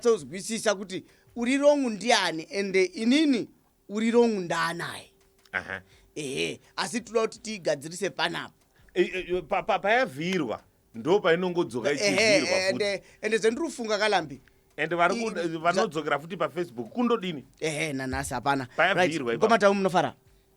kunyatsodzwisisa kuti uri wrong ndiani and inini uri wrong ndaanaye Aha. ehe asi tinoda kuti tiigadzirise panapa E- e- pa- pa- payavhirwa ndo painongodzoka Ehe, ichivhirwa ehe, futi ende ende zvandiri kufunga kalambi and vari ku- i- vanodzokera futi pafacebook kundodini ehe nanhasi hapana Payabvirwa Right, ipapo. mkoma tamu munofara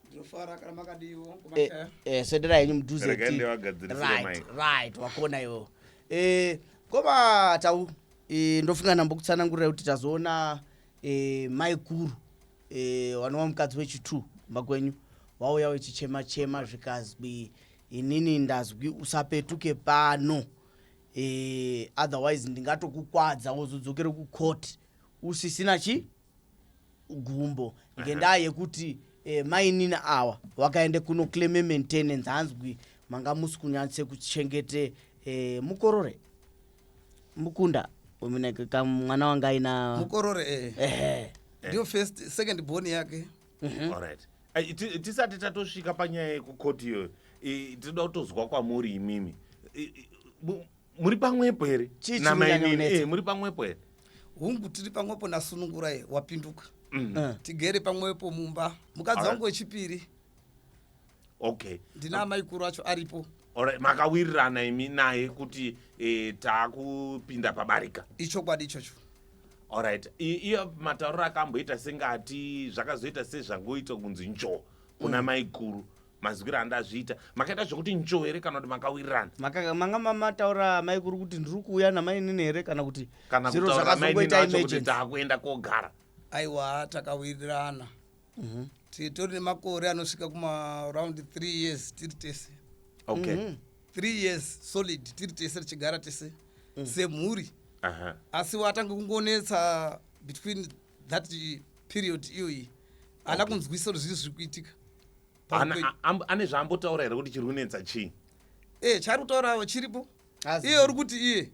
ndinofara kana makadiwo Eh, kumashaya eh, swederai henyu mudhuze Regai ti- ndivagadzirisire right, mic. right wakona iwo eh, koma tau eh, ndofunga ndambokutsanangurira kuti tazoona eh, maiguru eh, wanova mukadzi wechitu kumba kwenyu wauya wechichema chema zvikazwi inini ndazwi usapetuke pano eh, otherwise ndingatokukwadza wozodzokera kucourt usisina chi gumbo ngendaa yekuti eh, mainina awa wakaenda kuno claime maintenance hanzwi manga musi kunyatse kuchengete eh, mukorore mukunda umuneke ka mwana wanga aina mukorore eh. ehe ndiyo first second born yake Alright. Eh, ti- tisati tatosvika panyaya yekukoti iyoyo eh, tinoda kutozwa kwamuri imimi Eh, eh, mu- muri pamwepo here Chii namainini chinonyanyonetsa? Eh, muri pamwepo here hungu tiri pamwepo nasunungurai wapinduka Eh. tigere pamwepo mumba mukadzi Alright. wangu wechipiri okay ndina amaikuru acho aripo Alright, makawirirana imi naye kuti eh, taakupinda pabarika ichokwadi ichocho alright I- iyo matauriro akamboita sengati zvakazoita sezvangoita kunzi njo kuna maikuru mazwiro andazviita makaita zvekuti ncho here kana kuti makawirirana Maka- manga ma- mataura amai kuri kuti ndiri kuuya namainini here kana kuti kana zviro kutaura mai nini zvakazongoita vacho kuti emergency taakuenda kogara aiwa takawirirana Mhm. titori nemakore anosvika kumaaround 3 years tiri tese okay Mhm. 3 years solid tiri tese tichigara tese semhuri Aha. asi watange kungonetsa between that period iyoyi haana kunzwisa kuti zvii zviri kuitika ane zvaambotaura here kuti chiri kunetsa chii ee eh, chaari kutaurawo chiripo iye uri kuti iye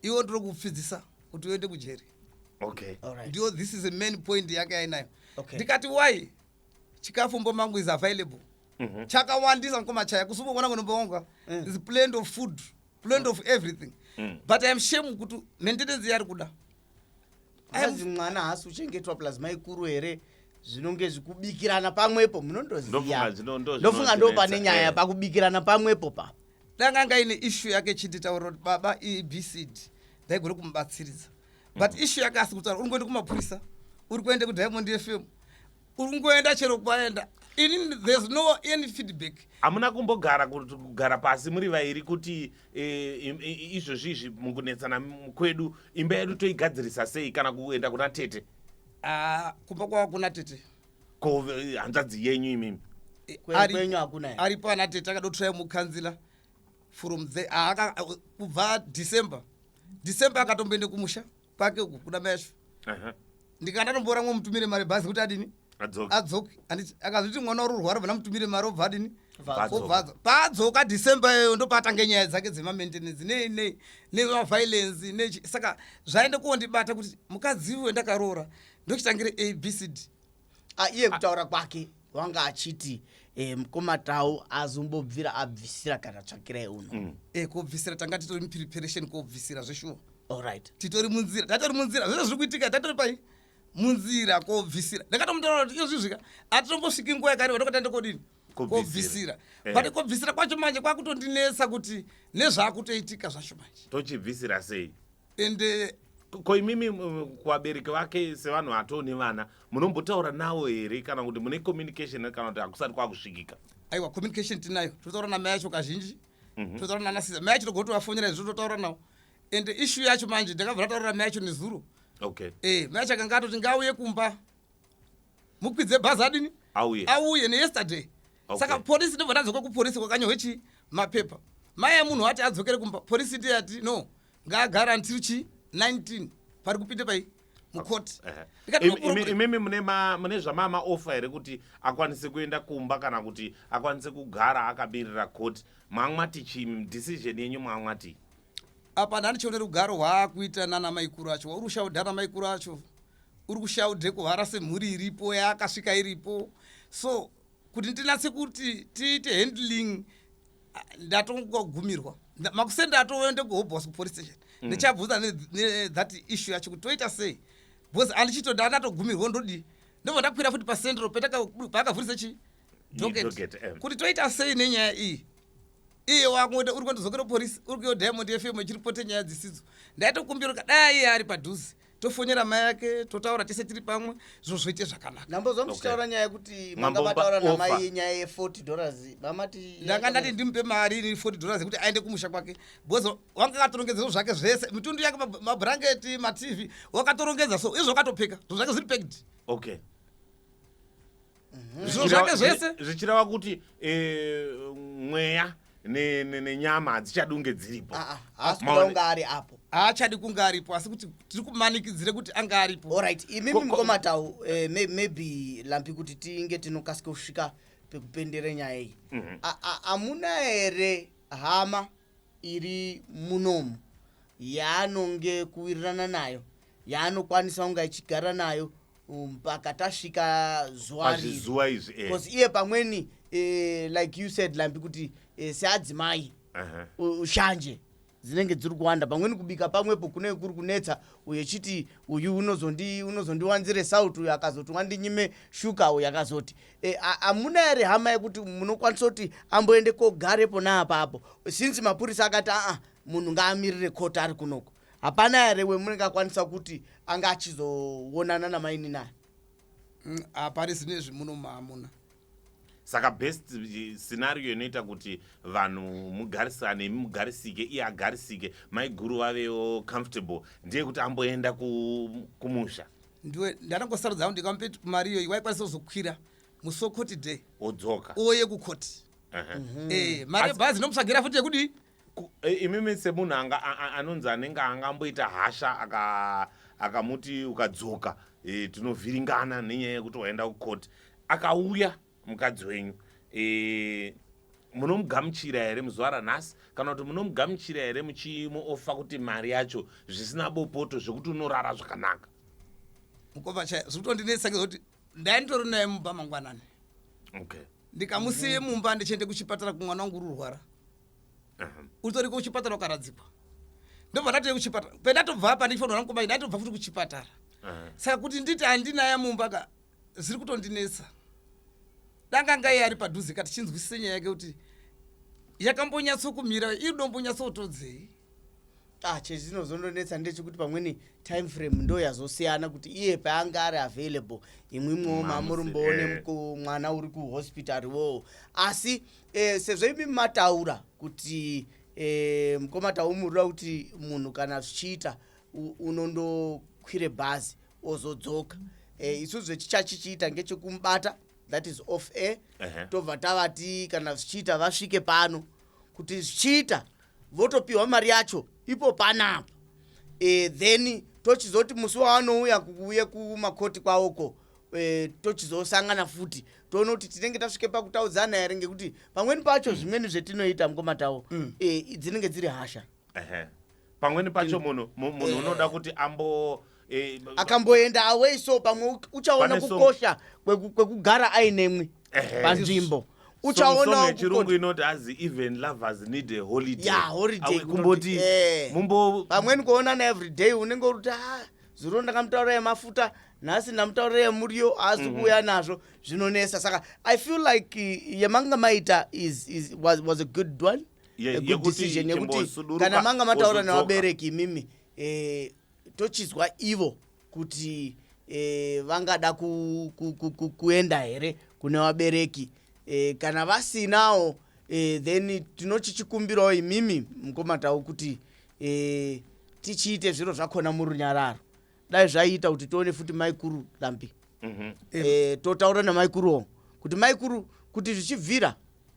iwe ndiri kupfidzisa kuti uende kujeri okay right. ndiyo this is a main point yake ainayo okay. ndikati why chikafu mbo mangu is available mm -hmm. chakawandisa mkoma chaya kusumbokona kunombowonga mm. is plant of food plant mm. of everything mm. but iam shame kuti maintenance yari kuda azi mwana haasi uchengetwa plus maikuru here zvinonge zvikubikirana pamwepo munondoziyanofunga ndo pane nyaya eh. pakubikirana pamwepo pa danga anga ine ishu yake chinditaura kuti baba ibcd ndaigona kumubatsiridza but mm. ishu yake asi kutaura uri kuenda kumapurisa uri kuenda kudiamond fm uri kungoenda chero kwaenda ini there's no any feedback hamuna kumbogara kugara pasi muri vairi kuti eh, izvozvi izvi mukunetsana kwedu imba yedu toigadzirisa sei kana kuenda kuna tete ah, kumba kwava kuna tete ko eh, hanzvadzi yenyu imimi eh, ari pana tete akadotorai mukanzila from the ah, kubva december december akatomboende kumusha kwake uku kuna mesvo ndikanga ndatomboora mwe mutumire mari bhazi kuti adini adzoke anditi akazviti mwana uri urwara vana mutumire mari obva adini obvadzo paadzoka december iyoyo ndopaatanga nyaya dzake dzemamaintenance nei nei nemaviolensi ne saka zvaende kuondibata kuti mukadzi iwe ndakaroora ndochitangire abcd Ah, iye kutaura kwake wanga achiti eh, mukoma tau azombobvira abvisira kana tsvakirai uno mm. e kobvisira tanga titori mupreparation kobvisira zveshuwa allright titori munzira tatori munzira zvese zviri kuitika tatori pai munzira kobvisira ndakatomutoraura kuti iyozvizvika atitombosviki nguva yakareba ndokatanda kodini kobvisira eh. but kobvisira kwacho manje kwakutondinetsa kuti nezvaakutoitika zvacho manje tochibvisira sei ende eh, ko imimi kuvabereki vake sevanhu vatoo nevana munombotaura navo here kana kuti mune communication kana kuti hakusati kwakusvikika aiwa communication tinayo tinotaura namai yacho kazhinji mhm. tinotaura nana siza mai yacho togoti vafonera izvo totaura navo ende ishu yacho manje ndakabva ndataurira mai yacho nezuro okay eh mai yacho akanga atoti ngauye kumba mukwidze bhazi adini auye auye neyesterday okay. saka polisi ndobva tadzoka kupolisi kwakanyohwe chii mapepa mai yemunhu wati adzokere kumba polisi ndiye ati no ngaagara until chii 19 pari kupinde pai mukoti imimi mune zvamama ofa here kuti akwanise kuenda kumba kana kuti akwanise kugara akabirira koti mamwati chi decision yenyu mamwati apa ndani chione rugaro hwaakuita nana maikuru acho wauri kushaudha ana maikuru acho uri kushaudhe kuhara semhuri iripo yaakasvika iripo so kuti ndinatse kuti tiite handling ah, ndatongogumirwa Nda- makusenda atouya ndegohobhos kupolice station Mm. ndichabvunza ne- ne- that issue yacho kuti toita sei because andichito ndandatogumirwa ndodii ndobva ndakwira futi pacentral petaka- paakavhurisa chi docket docket, eh. kuti toita sei nenyaya iyi iye wakungoita uri kundizokera polisi uri kuyo diamond fm ichiripote nyaya dzisidzo ndaitokumbira kuti dai iye ari padhuze tofonera mai ake totaura tese tiri pamwe zviro zvoite zvakanaka ndambozwa muchitaura nyaya yekuti manga mataura namai nyaya ye 40 dollars mamati ndanga ndati ndimupe mari ini 40 dollars yekuti aende kumusha kwake because wanga akatorongedza zvo zvake zvese mitundu yake mabrangeti matv wakatorongedza so izvo wakatopfeka zvo zvake zviri peked okay Mhm. Zvinhu zvake zvese. zvichireva kuti eh, mweya ne- ne- nenyama hadzichadunge dziripo Ah, ah, haasi kuda Maone- kunge ari apo haachadi kunge aripo asi kuti tiri kumanikidzire kuti ange aripo orit imimi Ko- ko- mukomatau eh, may- maybe lampi kuti tinge tinokasika kusvika pekupendere nyaya iyi Mhm. A- a- hamuna here hama iri munomu yaanonge kuwirirana nayo yaanokwanisa kunge achigara nayo um, mpaka tasvika zuva pazvizuva izvi eh. because iye pamweni eh, like you said lambi kuti eh, seadzimai uh-huh. ushanje dzinenge dziri kuwanda pamweni kubika pamwepo kunenge kuri kunetsa uyo chiti uyu unozondiwanzire sauti uyo akazoti wandinyime shuka uyo akazoti Eh, hamuna e, here hama yekuti munokwanisa kuti amboende kogare pona apapo since mapurisa akati aa munhu ngaamirire koti ari kunoko hapana here wemunenge akwanisa kuti anga achizoonana namaini naye mm, hapari zine izvi muno maamuna saka best eh, scenario inoita kuti vanhu mugarisane imi mugarisike iye agarisike maiguru vavewo comfortable ndeyekuti amboenda kumusha ndiwe ndanangosarudza hangu ndikamupe mari iyoyi waikwanisa kuzokwira musi wekoti day odzoka uwo yekukoti uh -huh. mm -hmm. e, eh, mari yebhazi inomutsvagira futi yekudii eh, imimi semunhu anonzi anenge anga amboita hasha akamuti aka ukadzoka e, tinovhiringana nenyaya yekuti waenda kukoti akauya mukadzi wenyu e, munomugamuchira here muzuva ranhasi kana kuti munomugamuchira here muchimuofa kuti mari yacho zvisina bopoto zvekuti unorara zvakanaka mukova chaiyo zviri kutondinetsa ngekuti ndainditori naye mumba mangwanani okay ndikamusiye mm-hmm. mumba ndichiende kuchipatara kumwana wangu ururwara uh-huh. utori kuchipatara ukaradzikwa ndobva ndatoye kuchipatara pendatobva apa ndichifanira mukoma ndaitobva futi kuchipatara uh-huh. saka kuti nditi handinaya mumba ka zviri kutondinetsa danga ngaiye ari padhuze ka tichinzwisise nyaya yake kuti yakambonyatsokumira iri dombonyatsotodzei ah chezinozondonetsa ndechekuti pamweni time frame ndo yazosiyana kuti iye paanga ari available imwi mwowo mamuri mboone eh. mwana uri kuhospital woo asi eh, sezvo imi mataura kuti eh, mkomataumurira kuti munhu kana zvichiita unondokwire bhazi ozodzoka eh, isu zvechichachichiita ngechekumubata that is off air uh -huh. tobva tavati kana zvichiita vasvike pano kuti zvichiita votopiwa mari yacho ipo panapa e, then tochizoti musi wavanouya kuuye kumakoti kwavoko e, eh, tochizosangana futi toona kuti tinenge tasvike pakutaudzana here ngekuti pamweni pacho zvimweni zvetinoita mukomatawo mm. e, dzinenge dziri hasha ehe pamweni pacho munhu mu- munhu Eh. unoda kuti ambo eh, b- akamboenda away so pamwe u- uchaona Pane song- kukosha kweku- kwekugara ainemwi Ehe. panzvimbo song- song uchaonawo yechirungu kukosha- inoti azi even lovers need a holiday Yeah, holiday, Awe kumboti kunoti, eh. mumbo pamweni kuonana everyday unenge uri kuti "Ah, zuro ndakamutaurira yemafuta nhasi ndamutaurira yemuriyo haasi Mhm. kuuya nazvo zvinonesa saka i feel like eh, yemanga maita is, is, was, was a good one kudecision yekuti kana manga mataura nevabereki imimi eh, tochizwa ivo kuti eh, vangada ku, ku, ku, ku, kuenda here kune vabereki eh, kana vasinawo eh, then tinochichikumbirawo imimi mkomatau kuti eh, tichiite zviro zvakona murunyararo dai zvaiita kuti tione futi maikuru lambi mm -hmm. e, totaura namaikuruwo kuti maikuru kuti zvichibvira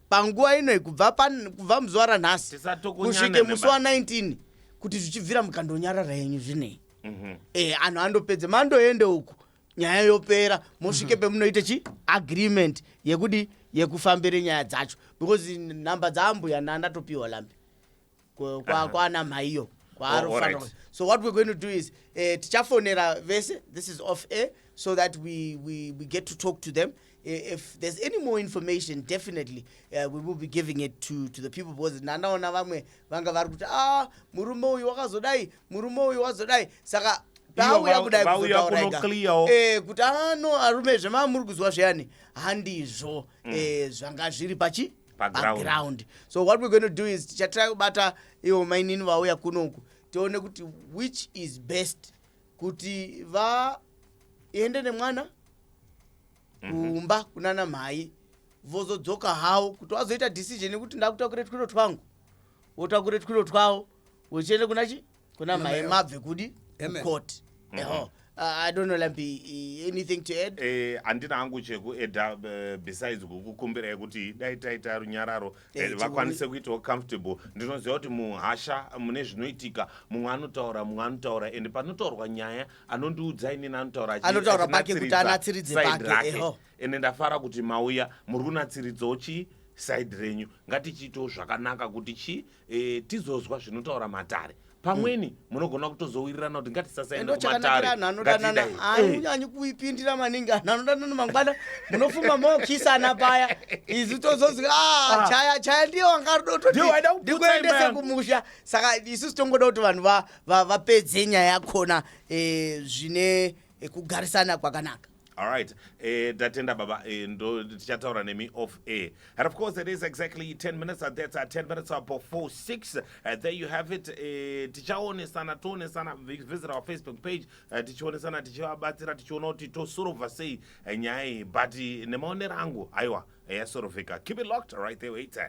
panguva ino kubva kubva muzuva ranhasi kusvike musi wa 19 kuti zvichibvira mukandonyarara yenyu zvinei mm -hmm. e, anhu andopedze mandoende uku nyaya yopera mosvike mm -hmm. pemunoite chi agreement yekudi yekufambire nyaya dzacho because nhamba dzaambuya nandatopiwa lambi kwana mhaiyo kwaarofanira oh, right. so what we're going to do is eh, tichafonera vese this is off air so that we, we, we get to talk to them eh, if there's any more information definitely uh, we will be giving it to, to the people because nanaona vamwe vanga vari kuti ah murume uyu wakazodai murume uyu wazodai saka pauya kudai kuzotauraikao eh, kuti ano ah, arume zvemamuri kuzwa zviyani handizvo mm. eh, zvanga zviri pachi paground so what we're going to do is tichatira kubata ivo mainini vauya kunoku tione kuti which is best kuti vaende nemwana mhm. kumba kunana mhai vozodzoka havo kuti vazoita decision yekuti ndakutakure twiro twangu votakure twiro twavo vochienda kuna chi kuna mai mabve kudi court mm-hmm. eho Uh, I don't know Lampi anything to add eh andina hangu cheku add uh, besides kukukumbira yekuti dai taita runyararo eh, eh vakwanise kuitawo comfortable ndinoziva kuti muhasha mune zvinoitika mumwe anotaura mumwe anotaura and panotaurwa nyaya anondiudza inini anotaura anotaura pake kuti anatsiridze pake eho ende ndafara kuti mauya muri kunatsiridzawo chii side renyu ngatichiitawo zvakanaka kuti chii e, tizozwa zvinotaura matare pamweni mm. munogona kutozowirirana kuti ngatisasaendokumatarianyi eh. kuipindira maningi anhu anodanana mangwana munofuma mokisana paya isu tozozi ah, ah. chaya chaya ndiye wangarodotondikuendese kumusha saka isu sitongoda kuti vanhu vapedze nyaya yakona eh, zvine kugarisana kwakanaka Alright, eh, tatenda baba eh, ndo tichataura nemi off air. And of course it is exactly 10 minutes and that's uh, 10 minutes up before 6. Uh, there you have it. Eh, tichaonesana toonesana vi- visit our Facebook page uh, tichionesana tichivabatsira tichiona kuti tosorova sei eh, nyaya iyi but eh, nemaonero angu aiwa eh, yasorovheka. Keep it locked right there where it's at.